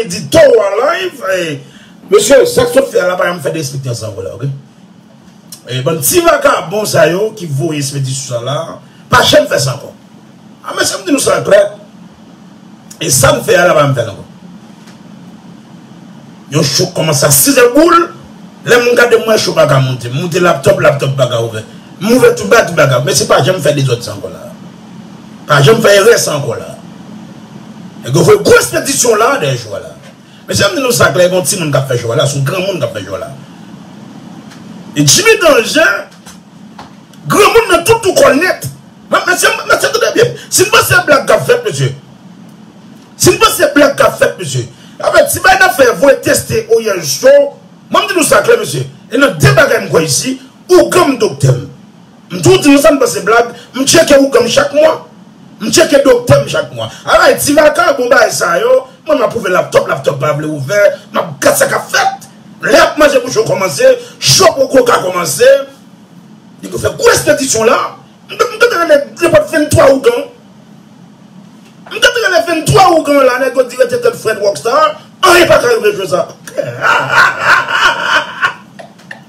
Li di toro an live e. Mesye sak sot fè a la pa janm fèt espri tan sa anko la ok e bann ti vakabon sa yo ki voye smedi sou sa la pa janm fè sa anko a mesye m di nou sa a klè e san fè a la pa janm fèt anko yon cho kòmanse a 6 zè boul lè m gade m wè cho paka moute m moute laptop laptop paka ouvè m ouvè tou ba tou paka mesye pa janm fè dezòd sa anko la. Pa janm fè erè sa ankò la. Nèg yo voye gwo espedisyon la dèyè jwè la. Mesye m di nou sa klè gon timoun kap fè jwè la, son granmoun kap fè jwè la. E Jimmy Danger granmoun nan tout tou kòl nèt. Map mesye mesye tande byen si n panse blag kap fèt mesye. Si n panse blag kap fèt mesye. Avè ti bay nap fè voye teste Oriel show. Mwen m di nou sa klè mesye. E nan 2 bagay m kwè isi, ougan m doktè m. M toujou di nou sa m pa se blag, m tcheke ougan m chak mwa, m tcheke doktè m chak mwa. Alright ti Maka bon bagay sa yo, mwen m apwouve laptop, laptop pa vle ouvè, m ap gad sa k ap fèt. Lè y ap manje pou cho kòmanse, cho poko ka kòmanse, li pou fè gwo espedisyon la, m ta ta renmen nenpòt 23 ougan, m ta ta renmen 23 ougan la nèg yo di rete tèt frèt Rockstar, anyen pa ka rive jou sa. Hahahahaha.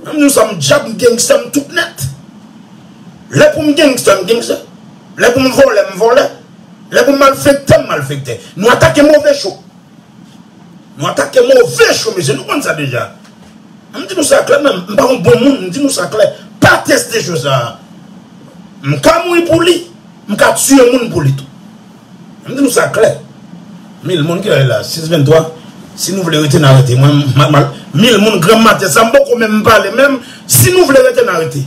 Menm nou sa m dyab m gangsta m tout nèt Lè pou m gangsta m gangsta Lè pou m vòlè m vòlè Lè pou m malfektè m malfektè Nou atake move cho Nou atake move cho mesye nou konn sa deja M di nou sa klè menm m pa yon bon moun m di nou sa klè Pa teste cho sa M ka mouri pou li M ka tiye moun pou li tou. M di nou sa klè, mil moun kilè li la 6 23 si nou vle rete na rete mwen m mil moun granm maten sa m poko menm pale menm si nou vle rete na rete.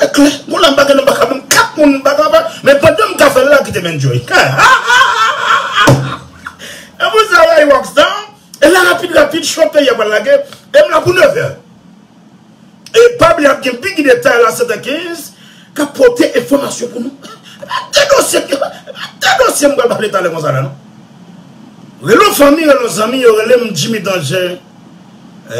E klè, moun la m pa gen non m pa ka menm 4 moun m pa ka ba, men pandan m ka fè l la kite m enjoy. Hahahahahaha! Epou sa ray Rockstar, e la rapid rapid show peyi a pral lage, e m la pou 9 è. E pa bliye ap gen bgy detay la 7 è 15 k ap pote enfòmasyon pou nou. E pa de dosye m, e pa de dosye m pral pale talè konsa la non. Rele yon fanmi, rele yon zanmi yo rele m Jimmy Danger.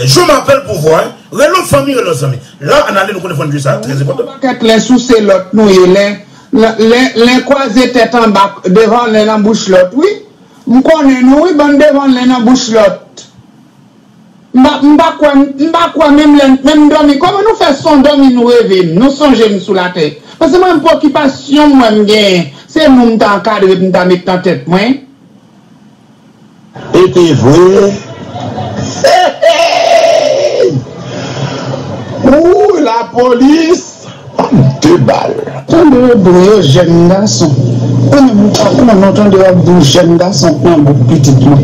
Je m'appelle pouvoir, relo fanmi relo zanmi. La anale nou konnen fòn jwe sa trè enpòtan. Yon pakèt len souse lòt nou ye len len kwaze tèt anba devan len nan bouch lòt wi m konnen nou wi bann devan len nan bouch lòt m pa m pa kwè m pa kwè menm lè menm m dòmi kòman nou fè son dòmi nou reve m nou sonje m sou latè pase mwen m pwokipasyon m wè m genyen se nou m ta ankadre pou m ta met nan tèt mwen. E te vre Heeyy Wouuyy la polis banm 2 bal. Tande yo dwe yo jèn gason ou menm ou pa konnen ou tande yap di w jèn gason pran bouk pitit mwen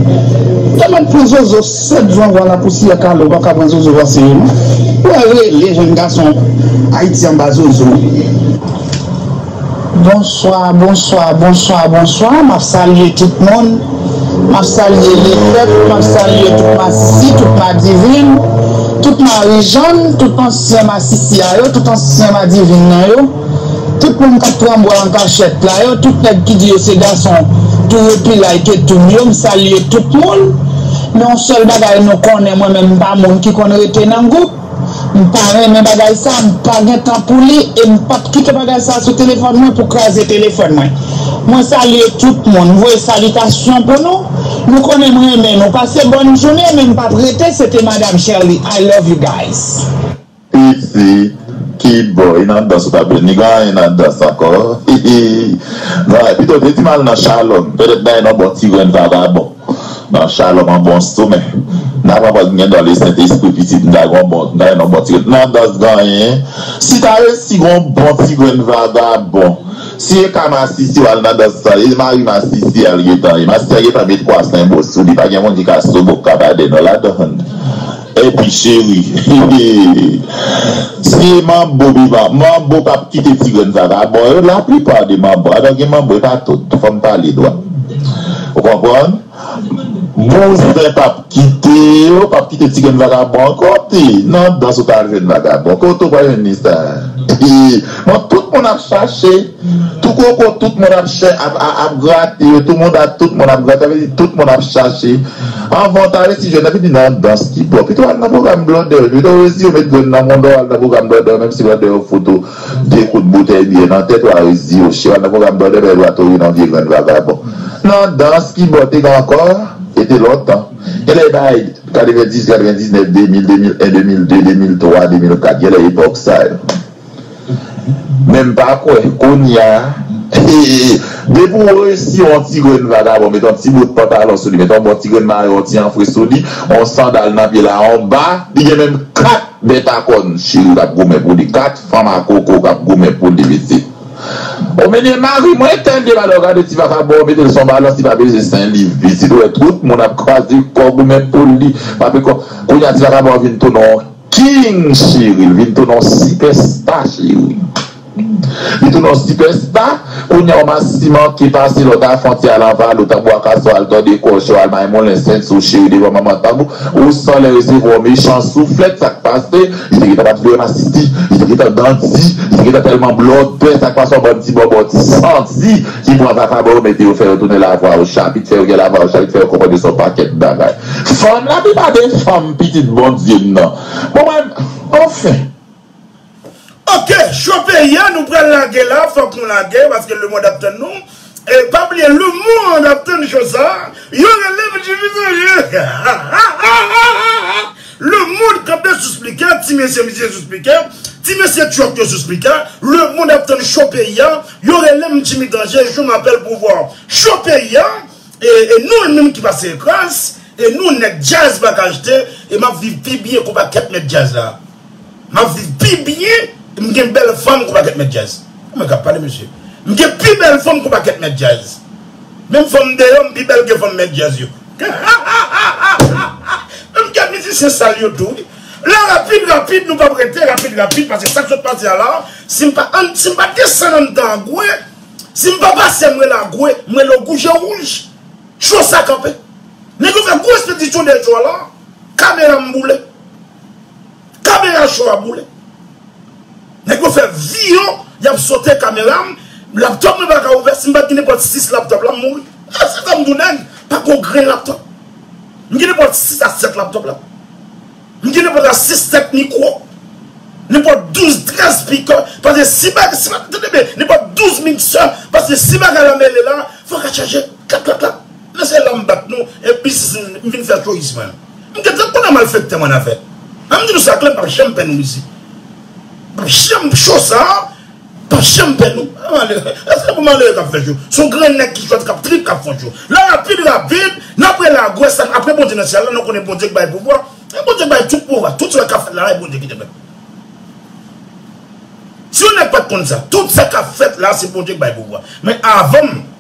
ta mèt pran zozo 7 van vwa la pousiyè kale ou paka pran zozo va sere non ou wè rele jèn gason ayiti anba zozo. Bonswa bonswa bonswa bonswa map salye tout moun map salye lefèt map salye tout masisi tout madivin tout marijann tout ansyen masisi a yo tout ansyen madivin nan yo tout moun kap pran bwa ankachèt la yo tout nèg ki di yo se gason tou repilay tetoum yo m salye tout moun men yon sèl bagay nou konnen mwen menm m pa moun ki konn rete nan gwoup. M pa renmen bagay sa, m pa gen tan pou li e m pap kite bagay sa sou telefòn mwen pou kraze telefòn mwen. Mwen salye tout moun, m voye salitasyon pou nou, nou konnen m renmen nou, pase bòn jounen men m pap rete se te madam Sherley I love you guys. Fifi ki boy nan dans ou tap jwenn li gen anyen nan dans ankò hihii nan pito te di mal nan chalòm pètèt bay non bon ti grenn vagabon. Nan shalom an bon sou men. Nan papa m gen don le sentespri pitit m ta gon bon m ta gen yon bon ti grenn nan dans ganyen si ta resi gon bon ti grenn vagabon si e ka masisi wal nan dans lan e mari masisi al gentan ye masisi a gentan met kwa senbo sou li pa gen moun ki ka sobo k ka ba de non ladann. Epi cheri hehehehe ti manbo bi manbo pap kite ti grenn sa ta bon yo la plupart de manbo a nan gen manbo e pa tout fòm pale dwat ou konprann bouzen pap kite yo pap kite ti grenn vagabon an kote nan dans ou ta jwenn vagabon kote ou pral jwenn li sa hehehe bon tout moun ap chache. Tou koko tout moun ap chè ap grate yo tou moun ap tout moun ap grate sa vle di tout moun ap chache anvan w ta resi jwenn epi vin nan dans ki bon pito w al nan pwogram blòdè yo pito w resi yo met grenn nan moun dan w al nan pwogram blòdè yo menm si blòdè yo fout ou 2 kout boutèy byè nan tèt wa resi yo chè w al nan pwogram blòdè pètèt wa tonbe nan vye grenn vagabon nan dans ki bon te gen ankò e te lontan gen lè bay 90 99 2000 2001 2002 2003 2004 gen lè epòk sa yo. Men m pa kwè, kounya. Depi w resi yon ti grenn vagabon met yon ti bout pantalon sou li, met yon bon ti grenn mayo, yon ti anfre sou li, yon sandal nan pye l a yon ba, li gen menm 4 bèt a kòn cheri k ap goumen pou li, 4 fanm a koko k ap goumen pou li mesye. O menye mari mwen tande m alò gade ti vakabon an mete l sou yon balans li pa peze 5 liv pitit ou wè tout moun ap kraze kò goumen pou li pa pe kò kounya ti vakabon an vin tounen yon King cheri l vin tounen yon sipè sta cheri Li tounen yon sipè sta Kounye a w masi manke pase lè w ta fontyè al anvalou tanbou akasò al tòde kò w cho al maymoulen sent sou cheri devan manman tanbou ou san lè resevwa w mechan souflèt sa k pase li te gentan pa t vle wè masisi li te gentan gandi li te gentan tèlman blòdè sa k pase yon bann ti bòbò ti santi ki pran vakabon yo mete yo fè yo tounen lavwa w chapit fè yo gen lavwa w chapit fè yo konprann yo se yon pakèt bagay. Fanm la pi pa de fanm pitit Bondye m nan pou mwen anfen. Ok show peyi a nou pral lage la fòk nou lage paske le monde ap tann nou e pa bliye le monde ap tann show sa yo relem jimmy sanje hahahahaha le monde kanpe sou spliker ti mesye misye sou spliker ti mesye truck yo sou spliker le monde ap tann show peyi a yo relem jimmy danje je mapel pouvwa show peyi a. E nou l menm ki pase ekraz e nou nèg djaz pa ka achte e map viv pi byen kou pakèt mèt djaz la map viv pi byen e m gen bèl fanm kou pakèt mèt djaz ou menm kap pale mesye m gen pi bèl fanm kou pakèt mèt djaz menm fanm deyò m pi bèl ke fanm mèt djaz yo hahahahahaha menm gen mizisyen sal yo tou wi la rapid rapid nou pap rete rapid rapid pase sak sot pase a la si m pa desann anndan gwe Si m pa pase m rele agwe, m rele w gouje wouj. Show sa kanpe. Nèg yo fè gwo espedisyon dèyè show a la. Kamera m boule. Kamera show a boule. Nèg yo fè vi yo, y ap sote kamera m, laptop mwen pa ka ouvè, si m pa t gen nenpòt 6 laptop la m mouri. E se sa m di w nèg pa gen yon grenn laptop. M gen nenpòt 6 a 7 laptop la. M gen nenpòt la 6 tèt mikwo, nenpòt 12 trèz spikè, paske si bagay, si bagay, tande byen, nenpòt 12 miksè, paske si bagay la mele la, fòk a chaje klak klak klak. Men se la m bat nou e biznis m, m vin fè touris mwen. M gen tan konnen malfèktè m annafè. An m di nou sa klè m p ap janm pè nan mizik. M p ap janm cho sa. Pap janm pè nou. An malere. Eske pou malere kap fè jou. Son grenn nèg ki jwèt kap trip kap fon jou. La rapid rapid nan prela agwe san apre Bondye nan syèl la nou konnen Bondye k bay pouvwa e Bondye k bay tout pouvwa tout sa kap fèt la e Bondye ki te fèl. Si yon nèg pat konn sa. Tout sa kap fèt la se Bondye k bay pouvwa men avanm.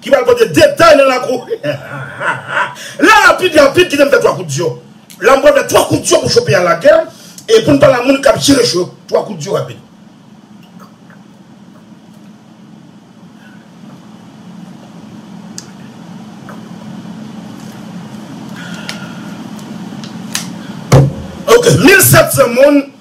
Ki pral pote detay nan lakou. La rapid rapid kite m fè 3 kout diyo. La m pral fè 3 kout diyo pou cho peyi a lage e pou n pale a moun kap jere cho yo 3 kout diyo rapid. Ok 1700 moun.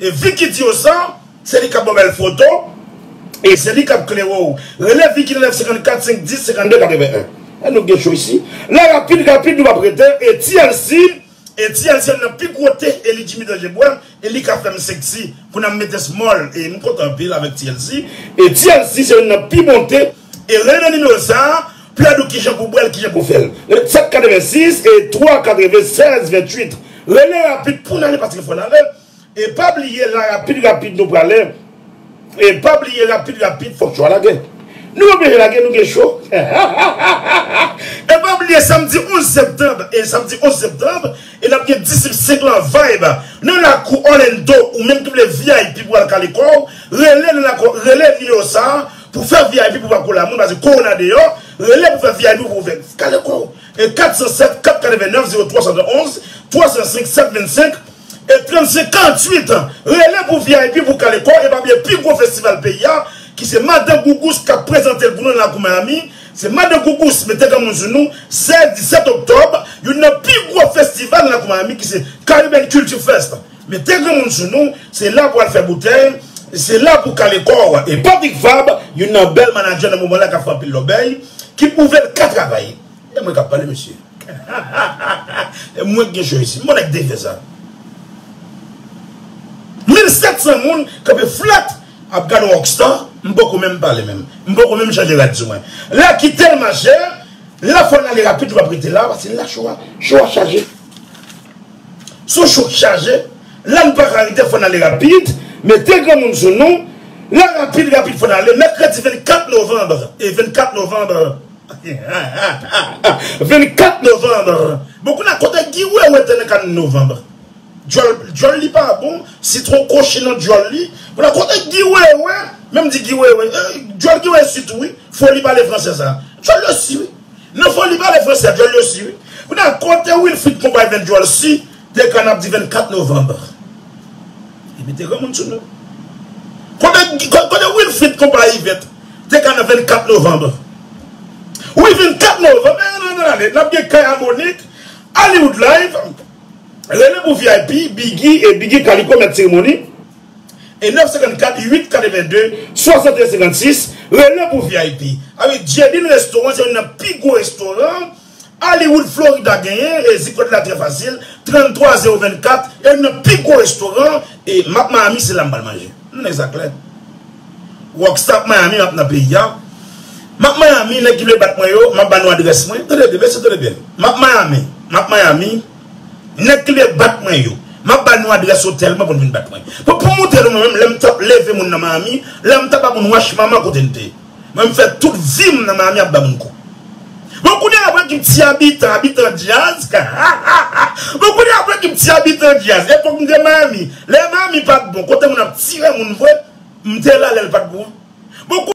E Vicky di yo sa, se li kap baw bèl foto, e se li kap klere w. Rele Vicky nan 954 510 52 81. An nou gen cho isi la rapid rapid nou pap rete e ti Elsi e ti Elsi youn nan pi gwo te e li Jimmy Danje bwè e li ka fèm sexy kou nan mete small e m kontan anpil avèk ti Elsi e ti Elsi se youn nan pi bon te E ren nan nimewo sa a, plèd ou kijan pou bwèl kijan pou fèl. Ret 7 86 e 3 96 28 rele rapid poun ale paske fò nale e pa bliye la rapid rapid nou prale e pa bliye rapid rapid fòk cho a lage nou oblije lage nou gen cho hahahaha e pa bliye samdi 11 septanb e samdi 11 septanb e nap gen distrip 5 lan vayb nan lakou Orlando ou menm ki vle vip pou al kale kòw rele nan lakou rele nimewo sa a Pou fè vip ou pap kola moun paske korona deyò, rele pou fè vip ou ouvè kale kòw e 407 489 0371 305 725 e 35 48 rele pou vip pou kale kòw e pa bliye pi gwo festival peyi a ki se madan gougous kap prezantel pou nou nan lakou miami se madan gougous mete granmoun sou nou 16 17 oktòb youn nan pi gwo festival nan lakou miami ki se caribbean culture fest. Mete granmoun sou nou, se la pou al fè boutèy, se la pou kale kò w. E Patrick Fabre, youn nan bèl manadjè nan moman la k ap fè anpil lòbèy, ki pwouve l ka travay. E mwen k ap pale mesye. E mwen k gen cho isi. M bon ak defè sa. 1700 moun kanpe flat ap gade yon rockstar, m poko menm pale menm. M poko menm chanje rad sou mwen. La kite l mache, la fò l ale rapid li p ap rete la paske la cho a, cho a chaje. Sou cho chaje, la n paka rete fò n ale rapid, mete granmoun sou nou, la rapid rapid fò n ale mèkredi 24 novanb e 24 novanb ha ha ha ha ha 24 novanb bon kounye kote Guy wewe te nan ka n novanb dyòl dyòl li pa bon sitwon kochi nan dyòl li kounye kote Guy wewe menm di Guy wewe dyòl Guy wewe si tou wi foli pale fransè sa dyòl yo si wi. Nan fon li pale fransè dyòl yo si wi. Kounye a kote Wilfrid konpay vin dyòl si te ka nap di 24 novembre li mete granmoun sou nou. Kote Wilfrid konpay Yvette te ka nan 24 novembre wi 24 novembre eh nan ale nap gen kay a Monique Hollywood live rele pou vip Biggy e Biggy kaliko mèt seremoni. E 954 882 61 56 rele pou vip. A wi Djedine restaurant se youn nan pi gwo restoran Hollywood Florida genyen e zip kod la trè fasil 33 024 e youn nan pi gwo restoran e map Miami se la m pral manje m nèg sa klè rock star ap Miami map nan peyi a map Miami nèg ki vle bat mwen yo map ba nou adrès mwen tande byen mesye tande byen map Miami map Miami. Nèg ki vle bat mwen yo. Map ba nou adrès otèl mwen pou nou vin bat mwen. Pou pou moutre nou mwen menm lèm tap leve moun nan Miami, lèm ta ba moun wach mama kote n te. Mwen m fè tout vim nan Miami ap ba moun kou. Bon kounye a vre ki m ti abitan, abitan dyaz hahaha bon kounye a vre ki m ti abitan dyaz epòk m te Miami lè Miami pat bon kote moun ap tire moun vre m te la lèl pat bon an. Bon.